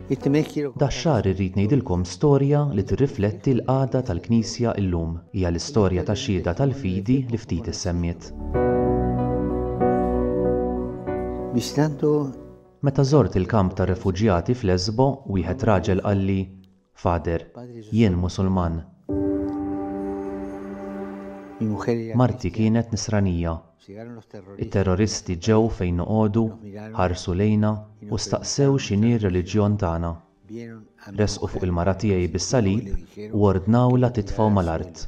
Dax-xahar irrid ngħidilkom storja li tirrifletti l-qagħda tal-Knisja llum. Hija l-istorja ta' xhieda tal-fidi li ftit issemmiet. Meta żort il-kamp tar-refuġjati f'Lesbo, wieħed raġel qalli, Father, jien Musulman. Marti kienet Nisranija. It-terroristi ġew fejn noqogħdu, ħarsu lejna u staqsew x'inhi r-reliġjon tagħna. Resqu fuq il-mara tiegħi bis-salib u ordnawlha titfgħu mal-art.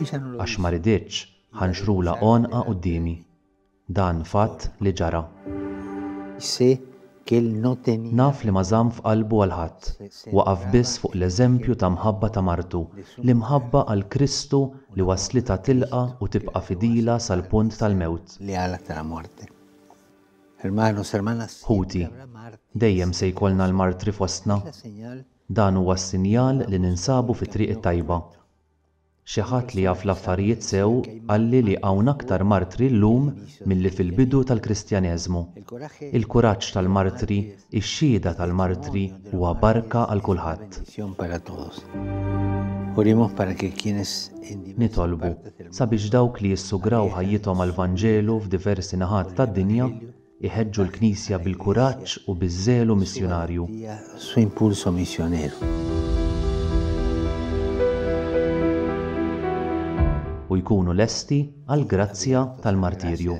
Għax ma riditx ħa nxrulha għonqha quddiemi. Dan fatt li ġara. Naf li ma żamm f'qalbu għal ħadd. Waqaf biss fuq l-eżempju ta' mħabba ta' martu, l-imħabba għal Kristu li wasslitha tilqa' u tibqa' fidila sal-punt tal-mewt. Ħuti, dejjem se jkollna l-martri fostna. Dan huwa s-sinjal li ninsabu fit-triq it-tajba. Xi ħadd li jaf l-affarijiet sew qalli li hawn aktar martri llum milli fil-bidu tal-Kristjaneżmu. Il-kuraġġ tal-martri, ix-xhieda tal-martri huwa barka għal kulħadd. Nitolbu sabiex dawk li jissugraw ħajjithom għall-Vanġelu f'diversi naħat tad-dinja, Iħeġġu l-Knisja bil-kuraġġ u biż-żelu missjunarju. U jkunu lesti għall-grazzja tal-martirju.